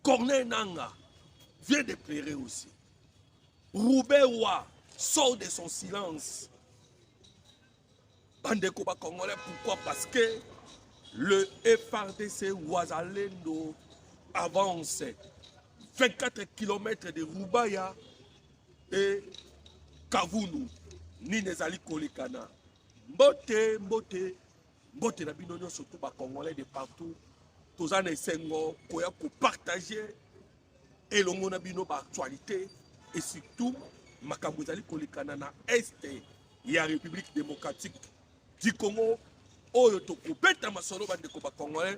Corneille Nanga vient de pleurer aussi. Roubaix Wa sort de son silence. Bandeko ba Congolais, pourquoi Parce que le FRDC Ouazalendo avance 24 km de Rubaya et Kavunu. Nini ezali kolekana mbote mbote mbote na bino nyonso tu ba congolais de partout toza na esengo koya kopartage elongo na bino baactualité et surtout makambo ezali kolekana na este ya république démocratique du congo oyo tokobeta masolo bandeko bacongolais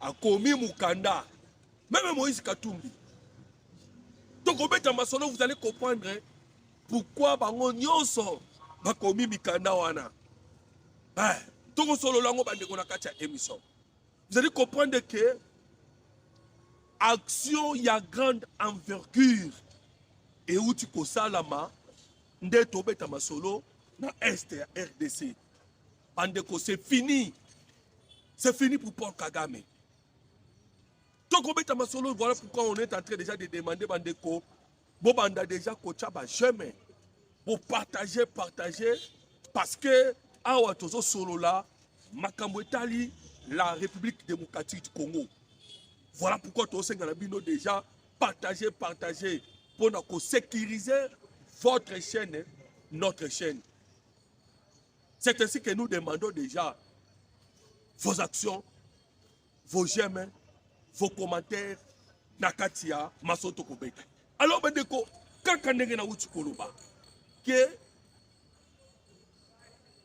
akomi mukanda meme moïse katumbi tokobeta masolo vous allez comprendre hein. pourquoi bango nyonso bakomi mikanda wana eh, tokosolola yango bandeko na kati ya émission vous allez comprendre que action ya grande envergure euti kosalama nde tobeta masolo na est ya rdc Bandeko, c'est fini. C'est fini pour Paul Kagame. tokobeta masolo voilà pourquoi on est en train déjà de demander bandeko bobanda déjà kotya bajeme bopartage partage parce que awa tozosolola makambo etali la république démocratique du congo voilà pourquoi tozosenga na bino déjà partage partage mpo na kosécurise votre chaîne notre chaîne C'est ainsi que nous demandons déjà vos actions, vos j'aime, vos commentaires na kati ya masoto kobeta. Alors bandeko, kaka ndenge nauti koloba ke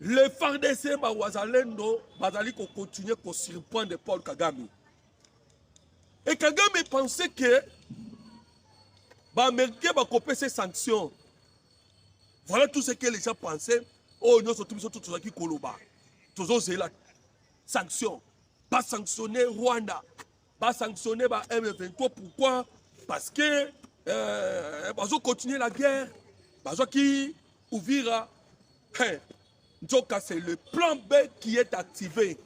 le FARDC bawazalendo bazali kokontinue kosurprendre Paul Kagame. Et Kagame pensait que baamericain bakopesa sanction voilà tout ce que les gens pensaient oyo nyonso tu biso tozalaki koloba tozozela sanction basanctionne rwanda basanctionne ba m23 pourquoi parce que euh, bazo continuer la guerre bazwaki uvira hey, nzoka c'est le plan b qui est activé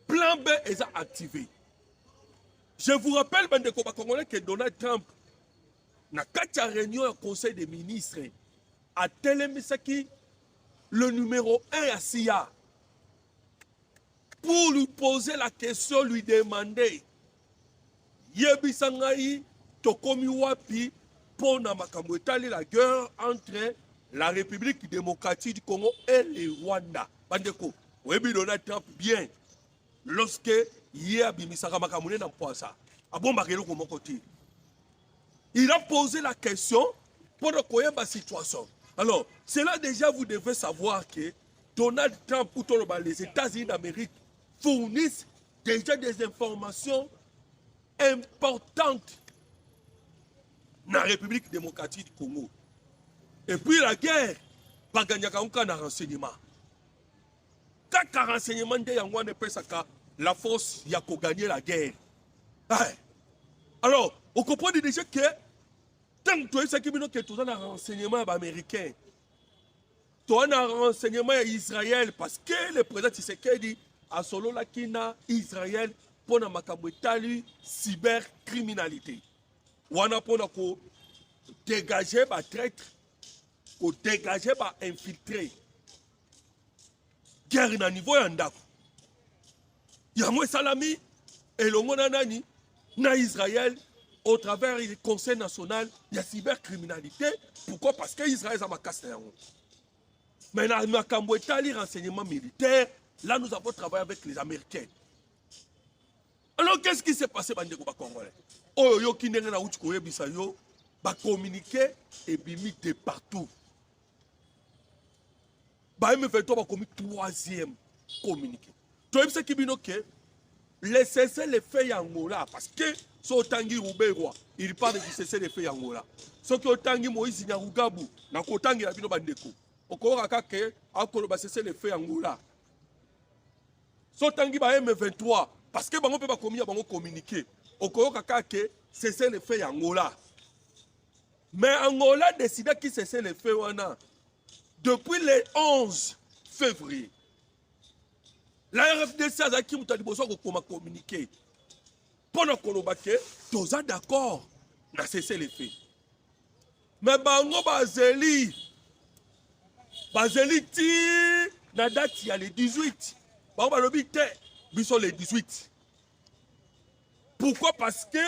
plan b eza activé je vous rappelle bandeko bakongolais que donald trump na kati ya réunion ya conseil des ministres atelemisaki le numéro 1 ya siya pour lui poser la question lui demander yebisa ngai tokomi wapi mpo na makambo etali la guerre entre la république démocratique du congo et le rwanda bandeko oyebi donald trump bien lorsque ye abimisaka makambo ne na mpwasa abombaka eloko moko te il a posé la question mpo na koyeba situation alors cela déjà vous devez savoir que donald trump ou toloba les états-unis d'amérique fournissent déjà des informations importantes na république démocratique du congo et puis la guerre baganyaka yango kaka na renseignement Kaka renseignement nde yango wana epesaka la force ya ko gagner la guerre. Eh. Alors, on comprend déjà que tant que tu sais bino que tu as un renseignement ya ba américain. Tu as un renseignement ya Israël parce que le président Tshisekedi a solo la kina Israël pour na makambo etali cybercriminalité. Wana pour na ko dégager ba traîtres, ko dégager ba infiltrés. guerre na niveau ya ndako yango esalami elongo na nani na israel au travers du conseil national ya cybercriminalité pourquoi parce que israel eza makasi na yango mais na makambo etali renseignement militaire là nous avons travaillé avec les américains alors qu'est-ce qui s'est passé bandeko bacongolais oyo oyoki ndenge nauti koyebisa yo bacommuniqué ebimi de partout ba M23 bakomi troisième communiqué toyebisaki bino ke le cessez le feu ya angola parce que so otangi ruberwa il parle du cessez le feu ya angola soki otangi moïse nyarugabu na kotangela bino bandeko okoyoka kaka akoloba cessez le feu ya angola so otangi ba m23 parce que bango mpe bakomi ya bango communiqué okoyoka kaka cessez le feu ya angola Mais Angola décida qui cessait le feu wana depuis le 11 février. La RFDC azalaki moto ya liboso kokoma communiqué mpo na koloba ke toza d'accord na cessez le feu. Mais bango bazeli bazeli ti na date ya le 18 bango balobi te biso le 18 pourquoi parce que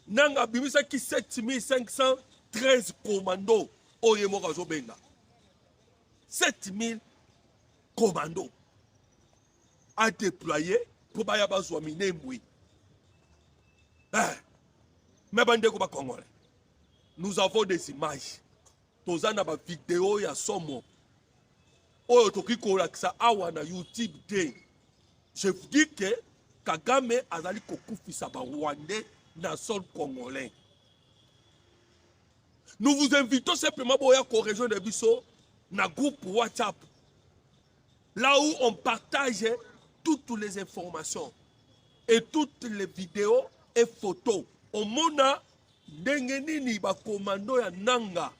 nanga abimisaki 7513 commando oyo ye moko azobenga 7000 commando adeploye mpo baya bazwa minembwe eh, me bandeko bakongole nous avons des images toza na bavideo ya somo oyo tokoki kolakisa awa na youtube te je vous dis que kagame azali kokufisa barwandais na sol congolais nous vous invitons simplement boya korejoindre biso na groupe whatsapp là où on partage toutes les informations et toutes les vidéos et photos omona Ndenge nini bakomando ya nanga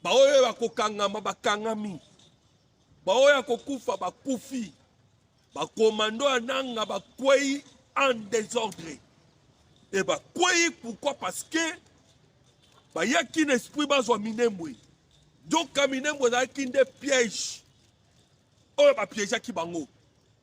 baoyo bakokangama bakangami, baoyo ya kokufa bakufi, bakomando ya nanga bakwei en desordre e bakwei pourquoi parce que bayaki na esprit bazwa minembwe nzoka minembwe ezalaki nde piège oyo bapiégeaki bango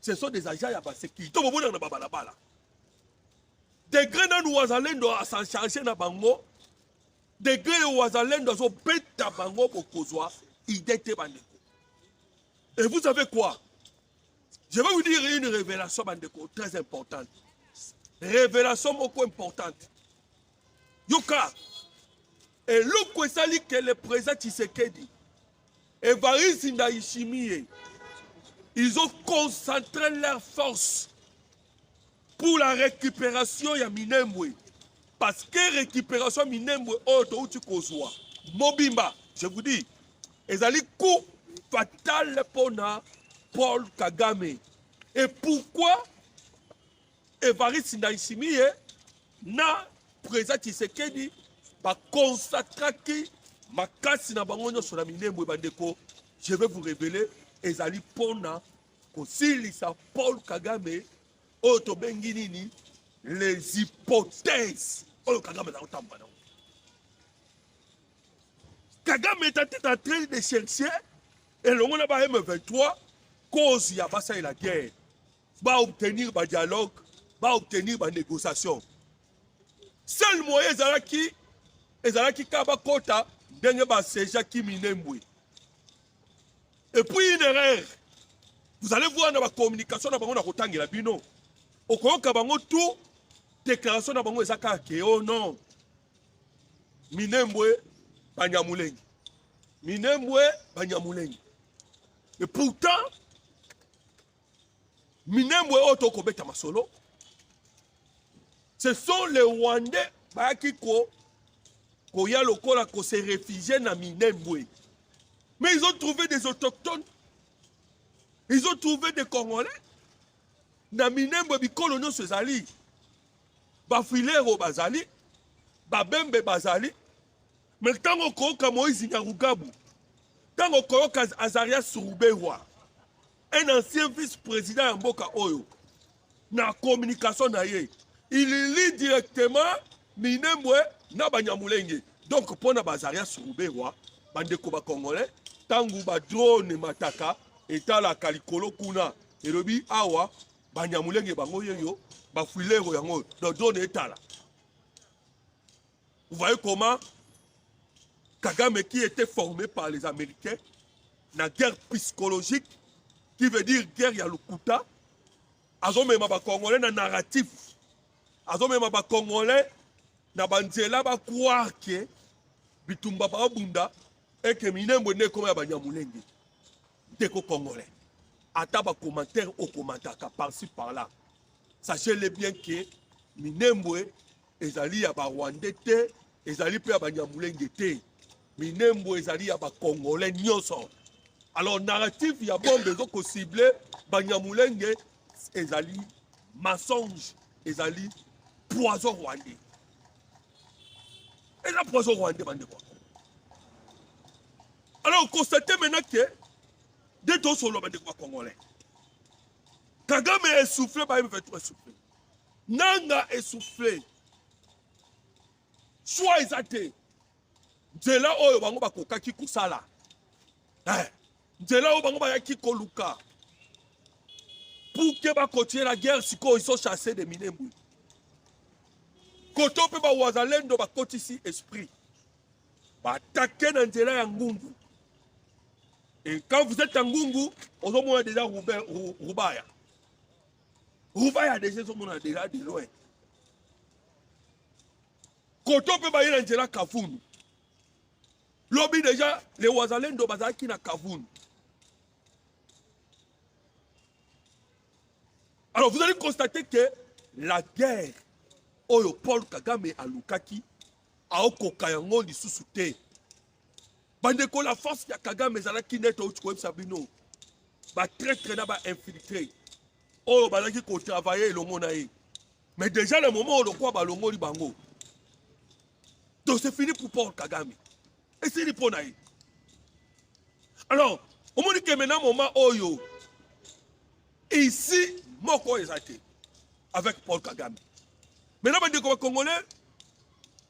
ce sont des agents ya basécurité bomonaka na babalabala degre nanu wazalendo asachange na bango degre yo wazalendo azobeta bango bokozwa idée te bandeko et vous savez quoi je vais vous dire une révélation bandeko très importante révélation moko importante yoka Eloko esali que le président Tshisekedi, Evariste Ndayishimiye, ils ont concentré leurs forces pour la récupération ya Minembwe. Parce que récupération ya Minembwe oyo touti kozwa mobimba, je vous dis, ezali coup fatal mpo na Paul Kagame. Et pourquoi Evariste Ndayishimiye na Président Tshisekedi ba consatraki makasi na bango nyonso na Minembwe bandeko je vais vous révéler ezali mpona kosilisa Paul Kagame oyo tobengi nini les hypothèses oyo Kagame azali kotambola nango Kagame est en train de chercher elongo na ba M23 cause ya basalela guerre ba obtenir ba dialogue ba obtenir ba négociation seul moyen ezalaki ezalaki kaka bakota ndenge basejaki minembwe et puis une erreur vous allez voir na bacommunication na bango na kotangela bino okoyoka bango tout déclaration na bango eza kaka ke o oh non minembwe banyamulenge minembwe banyamulenge et pourtant Minembwe oyo to kobeta masolo. Ce sont les Rwandais bayaki ko koya lokola ko se réfugier na Minembwe. Mais ils ont trouvé des autochtones. Ils ont trouvé des Congolais. Na Minembwe bikolo nyonso ezali. Bafilero bazali, babembe bazali. Mais ntango okoyoka Moïse Nyarugabu, ntango okoyoka Azarias Ruberwa, un ancien vice président ya mboka oyo na communication na ye il lit directement minembwe na banyamulenge donc mpo na bazaria suruberwa bandeko bacongolais ntango badrone mataka etalaka likolo kuna elobi awa banyamulenge bango yeyo bafuilero yango dodrone etala Vous voyez comment Kagame qui était formé par les Américains, la guerre psychologique, qui veut dire guerre ya lokuta, azomema bakongolais na narratif, azomema bakongolais na banzela bakroire ke bitumba baobunda eke minembwe nde ekoma ya banyamulenge ndeko congolais ata bacommentaire okomantaka parci par là sachez le bien ke minembwe ezali ya barwande te ezali mpe ya banyamulenge te minembo ezali ya bakongole nyonso alors narrative ya bombe ezo kosible banyamulenge ezali mensonge ezali poison rwandais eza poison rwandais bandeko alors constate maintenant ke nde tosolola bandeko bakongolais kagame esouffle ba m23 esouffle nanga essouffle choix eza te nzela oyo bango bakokaki kosala eh, nzela oyo bango bayaki koluka pour ke bakontinue na guerre sikoyo iso chasse de minembwe koto mpe bawazalendo bakotisi esprit batake na nzela ya ngungu et quand vous êtes ya ngungu ozomona deja rubaya rubaya deja ezomona deja de loin koto mpe baye na nzela kavunu lobi deja le wazalendo bazalaki na kavunu alors vous allez constater que la guerre oyo paul kagame alukaki aokoka yango lisusu te bandeko la force ya kagame ezalaki nde touti koyebisa bino batraitre na bainfiltre oyo bazalaki kotravaille elongo na ye mais déjà le moment oyo lokola balongoli bango donc c'est fini pour paul kagame esili mpo na ye alors omoni keme na moment oyo ici moko eza te avec paul kagame maintenant bandeko bacongolais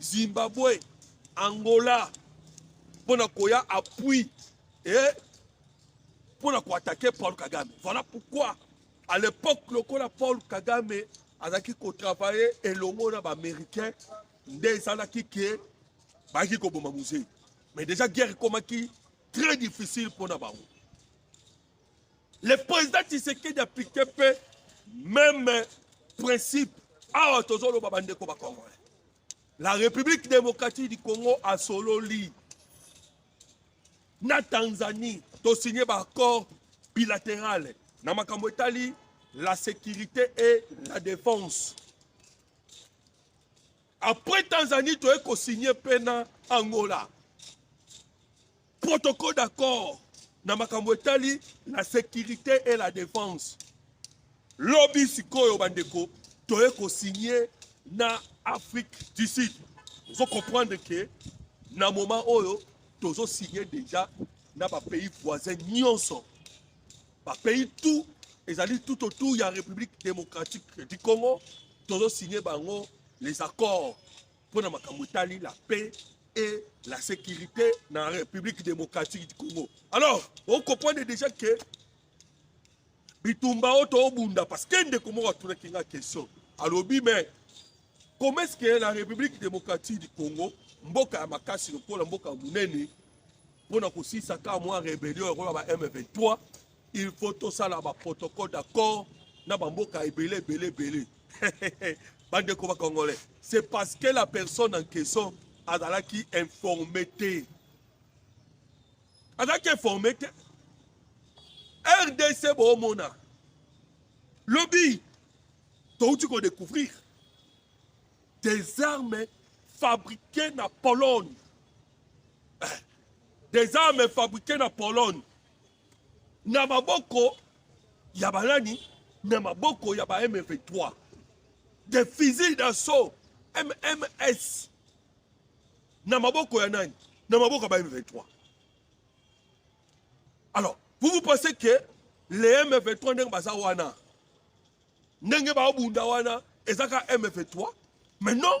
Zimbabwe, Angola mpo na koya appui et mpo na koatake Paul Kagame. Voilà pourquoi à l'époque lokola Paul Kagame azalaki kotravaille elongo na baaméricain nde ezalaki ke bayaki koboma muzei mais déjà guerre ekomaki très difficile mpo na bango Le président Tshisekedi applique pe même principe awa tozoloba bandeko bakongolais la république démocratique du congo asololi na tanzanie tosigne baaccord bilatéral na makambo etali la sécurité et la défense après tanzanie toye kosigne mpe na angola protocole d'accord na makambo etali la sécurité et la défense lobi sikoyo bandeko toye kosigne na afrique du sud ozo comprendre ke na moment oyo tozo signe déjà na bapays voisin nyonso bapays tout ezali tout autour ya république démocratique du congo tozo signe bango les accords mpo na makambo etali la paix et la sécurité na république démocratique du congo alors okomprendre déjà ke bitumba oyo toobunda parce que ndeko moko atunaki nga question alobi mais comment est ce que la république démocratique du congo mboka ya makasi lokola mboka ya monene mpo na kosisa kaka mwa rebellion yango ya ba m23 il faut tosala ba protocole d'accord na bamboka ebele ebele ebele bandeko bakongolais c'est parce que la personne en question azalaki informe te azalaki informe te rdc boomona lobi touti kodécouvrir des armes fabriquées na pologne eh, des armes fabriquées na pologne na maboko ya banani na maboko ya ba M23 de fusil d'assaut MMS na maboko ya nani na maboko ya ba M23 alors vous vous pensez que les M23 ndenge baza wana ndenge baobunda wana ezaka M23 mais non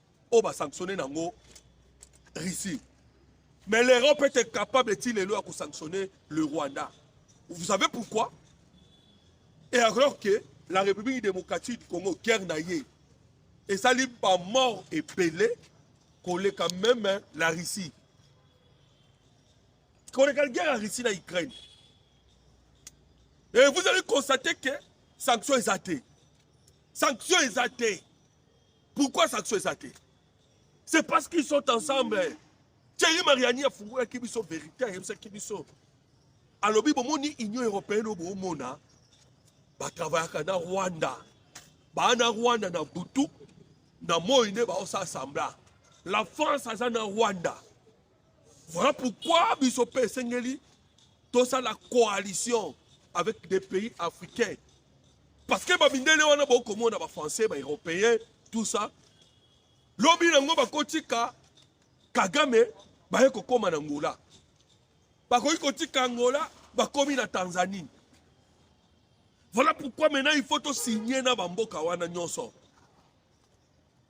oyo ba sanctionner nango Russie mais l'Europe était capable ti lelo ya ko sanctionner le Rwanda vous savez pourquoi et alors que la République démocratique du Congo guerre na ye esali ba mort ebele koleka même hein, la Russie koleka guerre ya Russie na Ukraine et vous allez constater que sanction eza te sanction eza te pourquoi saxo eza te c'est parce qu'ils sont ensemble thierry mariani afungolaki biso vérité ayebisaki biso alobi bomoni union européenne oyo bomona batravayaka na rwanda baa na rwanda na butu na moi nde baosa asambla la france aza na rwanda Voilà pourquoi biso pe esengeli tosala coalition avec des pays africains. Parce que bamindele wana bokomona ba français, ba européens, tout ça. Lobi nango bakotika Kagame baye kokoma na Angola. Bakoki kotika Angola bakomi na Tanzanie. Voilà pourquoi maintenant il faut signer na bamboka wana nyonso.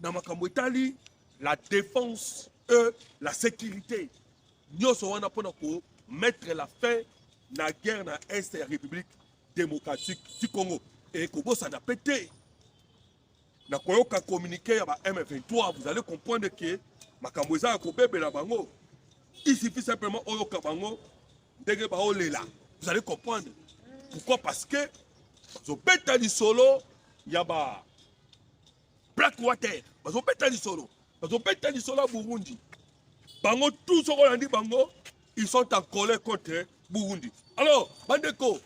na makambo etali la défense e la sécurité nyonso wana mpo na ko mettre la fin na guerre na est ya république démocratique du congo ekobosana mpe te na koyoka communiqué ya ba m23 vous allez comprendre ke makambo eza ya kobebela bango il suffit simplement oyoka bango ndenge baolela vous allez comprendre pourquoi parce que bazobeta lisolo ya ba black water bazobeta lisolo bazobeta lisolo ya burundi bango tout soko olandi bango ils sont en colère contre burundi alors bandeko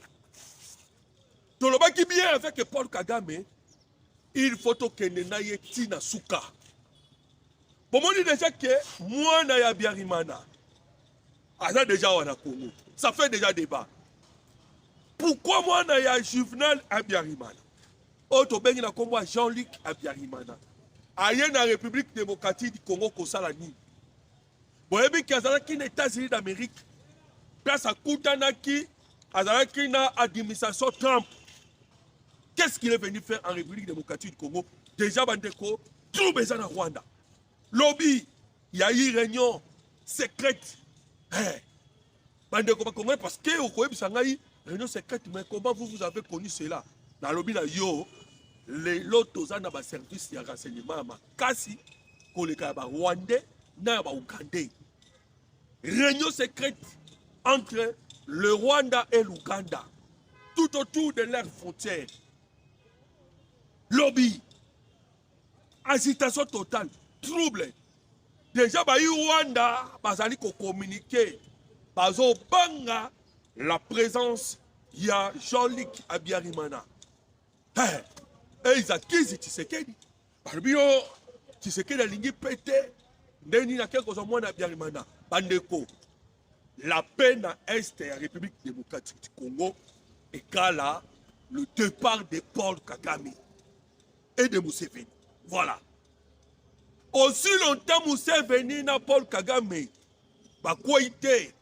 tolobaki bien avec paul kagame il faut tokende na ye ti na suka bomoni deja ke mwana ya biarimana aza deja awa na congo ça fait deja débat pourquoi mwana ya juvenal abiarimana oyo tobengi na nkombo ya jean luc abiarimana aye na république démocratique du congo kosala nini boyebi ke azalaki na états-unis d'amérique place akutanaki azalaki na administration trump qu'est ce qu'il est venu faire en république démocratique du congo déjà bandeko trouble eza na rwanda lobi ya i reunion secrète eh. bandeko bakongole parce que okoyebisa ngai réunion secrète mais comment vous vous avez connu cela nalobi na yo lelo toza na baservice ya renseignement ya makasi koleka ya barwandais na ya baougandais réunion secrète entre le rwanda et l'ouganda tout autour de leur frontière lobi agitation totale trouble deja bayi rwanda bazali kokomunike bazobanga la présence ya jean-luc abiarimana hey, eiza kizi tisekedi balobi yo tisekedi alingi mpe te nde nini akei kozwa mwana abiarimana bandeko la paix na est ya république démocratique du congo ekala le départ de paul kagame et de Museveni. Voilà. Aussi longtemps Museveni na Paul Kagame bakwei te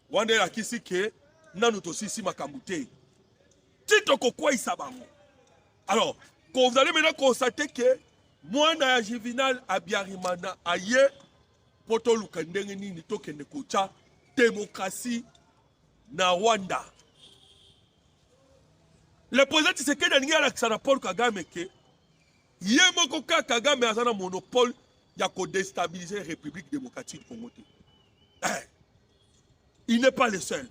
wana elakisi ke nanu tosisi makambo te ti tokokweisa bango alors kozali maintenant konstate ke mwana ya juvenal abiarimana aye mpo toluka ndenge nini tokende kotya demokrasi na rwanda Le président Tshisekedi alingi alakisa na Paul Kagame ke ye moko kaka Kagame aza na monopole ya kodestabiliser République démocratique du Congo te. Eh, il n'est pas le seul.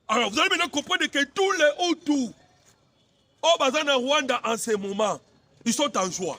Alors vous allez maintenant comprendre que tous les Hutus au oh, Bazana Rwanda en ce moment, ils sont en joie.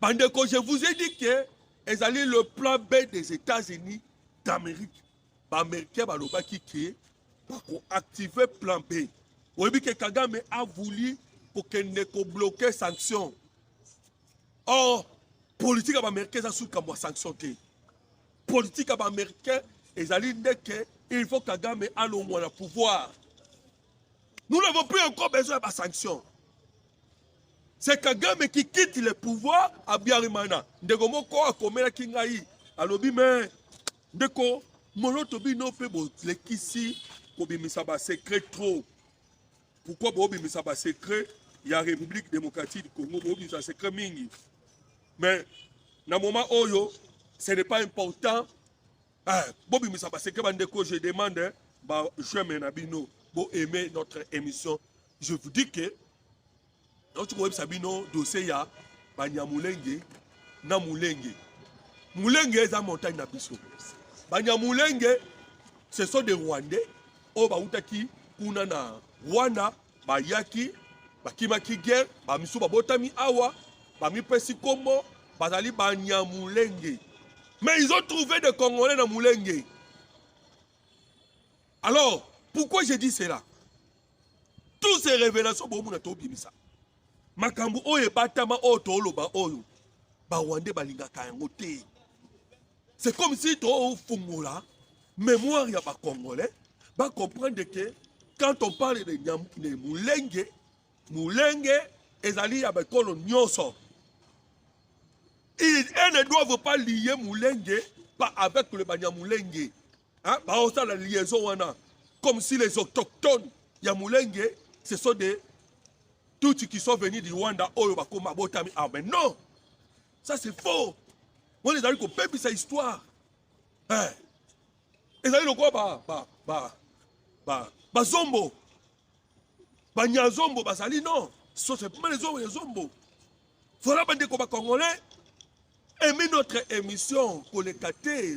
Bandeko, je vous ai dit que ezali le plan B des États-Unis d'Amérique. Bamericain balobaki ke bakoactive plan B. Oyebi ke Kagame a voulu kokende kobloke sanction. Or, politike ya bamericain eza suki kambo ya sanction te. Politike ya bamericain ezali nde ke il faut Kagame alongwa na pouvoir. Nous n'avons plus encore besoin de sanctions. C'est Kagame qui quitte le pouvoir à Biarimana. Ndeko moko akomelaki ngai alobi me ndeko moloto bino mpe bolekisi kobimisa basecret trop. Pourquoi bobimisa basecret ya République démocratique du Congo bobimisa secret mingi. Mais na moment oyo ce n'est pas important Eh, bobimisa baseke bandeko je demande hein, ba j'aime na bino bo aimer notre émission je vous dis que nauti koyebisa bino dossier ya banyamulenge na mulenge mulenge eza montagne na biso banyamulenge ce sont des rwandais oyo bautaki kuna na rwanda bayaki bakimaki guerre bamisu babotami awa bamipesi nkombo bazali banyamulenge mais ils ont trouvé des congolais na mulenge alors pourquoi j'ai dit cela tous ces révélations bomona tobimisa makambo oyo ebatama oyo tooloba oyo barwandais balingaka yango te C'est comme si tu as mémoire ya ba congolais ba comprendre que quand on parle de, nyam, de mulenge mulenge ezali ya bakolo nyonso ils ne doivent pas lier mulenge pas avec le banyamulenge hein? baosala liaison wana comme si les autochtones ya mulenge ce sont des tutsi qui sont venus du rwanda oyo bakoma botami ah mais non ça c'est faux wana ezali kopebisa histoire eh. ezali lokola ba, ba, ba, ba, bazombo banyazombo bazali non so c'est pas les hommes les zombo voilà bandeko ba congolais aimez notre émission koleka te